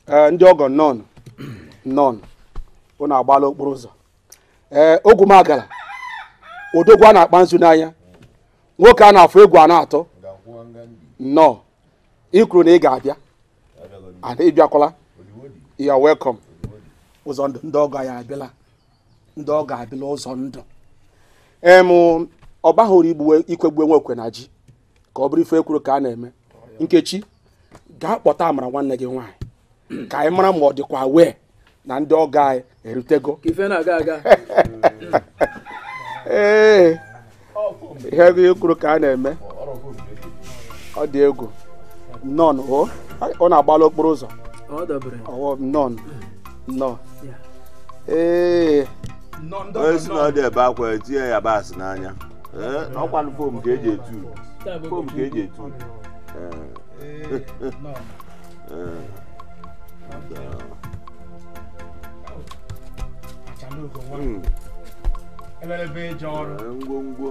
ee ndị ọgọ nnọọ nnọọ ụnụ agbaala okporo ụzọ ee ogwumagala odogwu a na-akpa nzu n'anya nwoke a na-afụ egwu a na-atụ nnọọ ị kwuru na ị ga-abịa and ị bịakwala you are welcome ụzọndụ ndị ọgọ anyị abịala ndị ọgọ abịala ụzọndụ em ọ bahụ uru igbuwe ikwegbu onwe ekwe na ji ka ọ bụrụ ife ekwuru ka a na-eme nkechi gaa kpọta amara nwanne gị nwaanyị ka anyị mara ma ọ dịkwa aware na ndị ọgọ anyị erutego ife na-aga aga ee ihe ekwuru ka a na-eme ọ dị egwu nnọọ o ụnụ agbala okporo ụzọ ọwọ nnọọ nnọọ ee onye si na ọ dị ebe akwa etinye ya yabasị n'anya ọkwa fom ka eji etu fom ka eji etu Eh, nnọọ. Eh, Achalugo nwa. Hmm. Elelebe eje ọrụ. Eh, ngwongwo.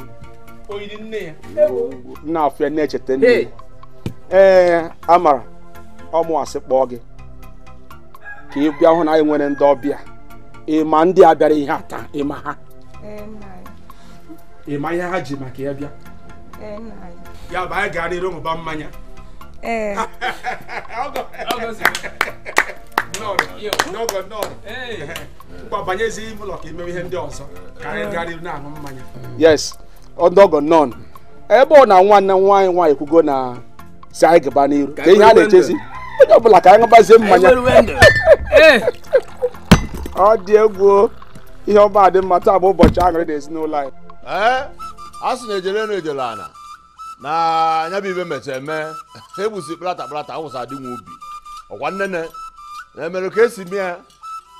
Oyiri nne ya. Nna afụ ya na-echeta nne. Ee, Amara, ọ mụwa sị kpọọ gị. Ka ị bịa hụ na anyị nwere ndị ọbịa. Ị ma ndị a bịara ihe a taa, ị ma ha. ị ma ihe ha ji maka ya bịa ya bụ anyị gara iru ṅụba mmanya ee ngwa banyezi ime ụlọ ka i mewe ihe ndị ọzọ ka anyị gara iru na-aṅụ mmanya yes ndị ọgọ nnọọ ebe ọ na nwanne anyị nwaanyị ekwugo na si anyị gaba n'iru kee ihe a na-echezi onye ọbụla ka anyị ṅụbazie mmanya eh. ọ dị egwu ihe ọma dị mma taa bụ ụbọchị aṅụrị na ezinụlọ anyị eh, a sị na ejele na ejele ana na nya bụ ife mecha eme egbusi kplata kplata awụsa adịnwa ubi ọkwa nnene na-emere ka esi mee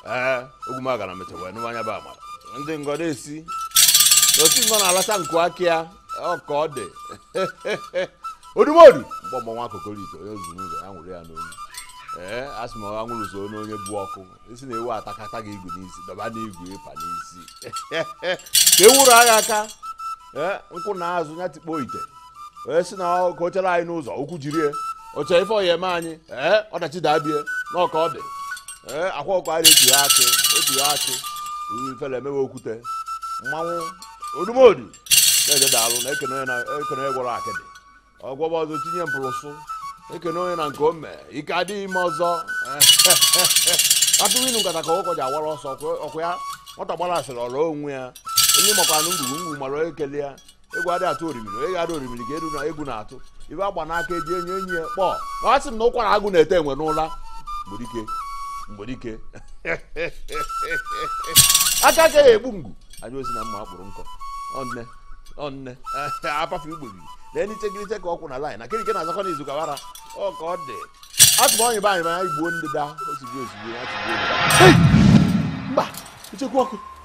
ee ogwumagana mecha wee nụwa nya bụ amara ndị ngọ na-esi n'otu ngọ na-alacha nku aka ya ọ ka ọ dị odumodu mgbe ọgbọ nwa kokoriko onye zuru ụzọ ya nwụrụ ya n'olu ee a sị ma ọ nwụrụ so n'onye bụ ọkụ isi na ewu atakata gị igu n'isi dọba n'igu ị pa n'isi ka ewuru agha aka ee nkwụ na azụ ya tikpo ite onye si na ka o chere anyị n'ụzọ okwu jiri e. o che ife ọ ya-eme anyị ee ọdachi dabie n'ọka ọ dị ee akwa ọkụ anyị na-etu ya akị otu ya akị ifele emewe okwute mmanwụ odumodu na-eje daalụ na ekene onye na- ekene onye gwọrọ akịdị ọ gwọba ọzọ tinye mpụrụsụ ekene onye na nke o mee ike adị ya ime ọzọ atụghị inu nkata ka ụkọ ji awara ọsọ ọkụ ya nwata gbara asịrị ọrụ onwe ya onye makwanụ ngwugwu ngwu mara ekele ya egwu adị atụ orimiri onye ga-ada orimiri ga-eru na egwu na-atụ ibe agba n'aka eji enye enyi ya kpọọ na ọ sị m na ụkwara agụ na-ete enwe n'ụla mgbedike mgbedike aka aka ya egbu mgbu anyị osi na mma akpụrụ nkọ ọnne ọnne apafe igbogiri na enichegiriche ka ọkwụ na laịn na kirike na-azakọ n'izu gawara ọ ka ọ dị atụma onye be anyị ma anyị gbuo ndị da ozugbo ozugbo ya tụgbuo ndị da. mba ichekwa ọkụ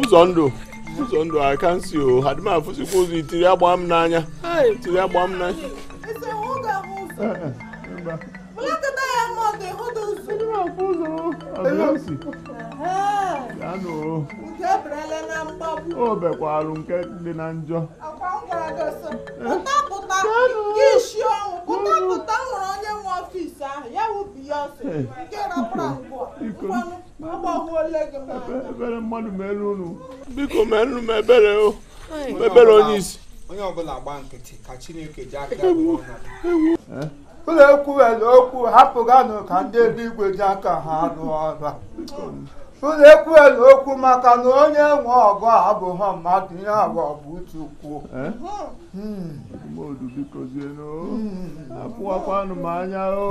ụzọ ndụ ụzọ ndụ a ka m si o adị m afụzikwa ụzọ itiri agba m n'anya itiri agba m n'anya o mekwalụ nke dị na njọ ebere mmadụ mere unu biko mere m ebere o ebere onye isi onye ọbụla gba nkịtị ka chineke ji aka ụlọ ekwu were okwu hapụganụ ka ndị eluigwe ji aka ha arụ ọrụ ụlọ ekwu were okwu maka na onye nwe ọgụ abụghị mmadụ ihe ọ bụ bụ chukwu o apụwakwanụ m anya o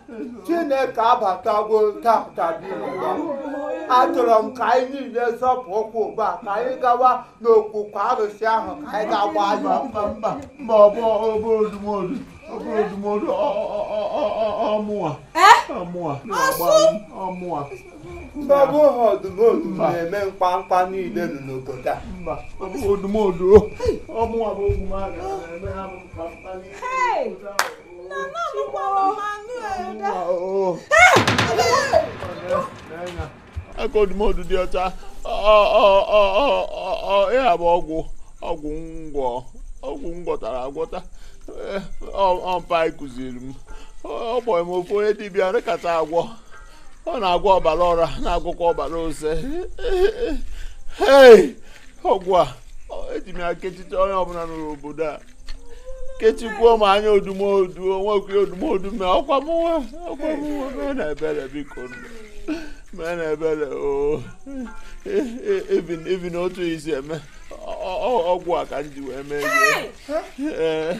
chineke abatago tata achọrọ m ka anyị niile zọpụ ụkwụ ugbu a ka anyị gawa n'okwu arụsị ahụ ka anyị ga-agba anya mba mba mba ọ bụ ọ bụ odumodu ọ bụ odumodu ọ- ọ- ọ- ọ- ọ- ọ mụwa ọ mụwa na-agba anyị, ọ mụwa mba ọ bụhọ odumodu na-eme mkpamkpa niile nọ n'obodo a mba ọ bụ odumodu ọ mụwa bụ ogwumagana na-eme ha bụ mkpamkpa niile. aka odumodu dị ọcha ịha bụ ọgwụ ọgwụ m gwọ ọgwụ m gwọtara agwọta ọ mpa kụziri m ọ gbọrọ m ofu onye dibịa kacha agwọ ọ na-agwọ ọbara ọra na-agwọkwa ọbara ose ọgwụ a eji m ya kechicha onye ọbụla n'obodo a kechikwuo m anya odumodu onwekwu odumodu mee ọkwa m nwa ọkwa m nwa mee na ebere biko mee na ebere o even otu e si eme ọgwụ a ka m ji wee mee ihe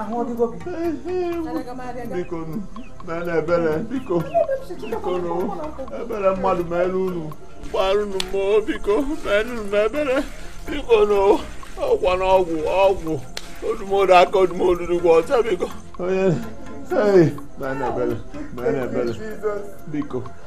ahụ ọdịgo gị biko nu mere ebere biko biko nu ebere mmadụ mere unu gbagharanụ m o biko merụnụ m ebere biko nu ọkwa na ọgwụ ọgwụ odumodu aka odumodu dịkwa ọcha biko onye mere ebere mere ebere biko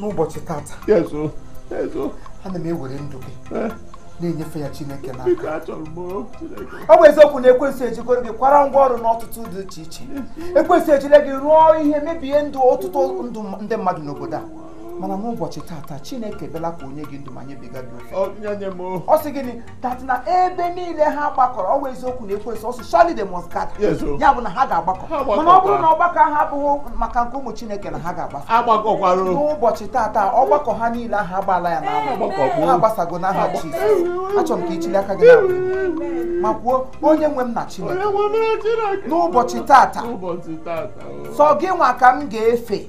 n'ụbọchị tata ana m ewere ndụ gị eh? na-enyefe ya chineke n'aka ọ bụ eziokwu na ekwensu ejikọrọ gị kwara ngwa ọrụ n'ọtụtụ dị iche iche ekwensu ejile gị rụọ ihe mebie ndụ ọtụtụ ndụ ndị mmadụ n'obodo a mana n'ụbọchị tata chineke bịala ka o nye gị ndụ ma nyebiga gị ọ sị gịnị that na ebe niile ha gbakọrọ ọ bụ eziokwu na akwụkwọ nsọ sị surely they must gather Yes, o. ya bụ na ha ga-agbakọ Ha gbakọkwa. mana ọ bụrụ na ọgbakọ ha abụghị maka nke ụmụ chineke na ha ga-agbasa agbakọkwara o. n'ụbọchị tata ọgbakọ ha niile ahụ agbaala ya n'ahụ Agbakọkwa. ha agbasago n'aha Jizọs achọrọ m ka i chilie aka gị n'elu ma kwuo onye nwe m na Chineke Onye nwe m na Chineke. n'ụbọchị tata N'ụbọchị tata o. sọ gị nwa ka m ga-efe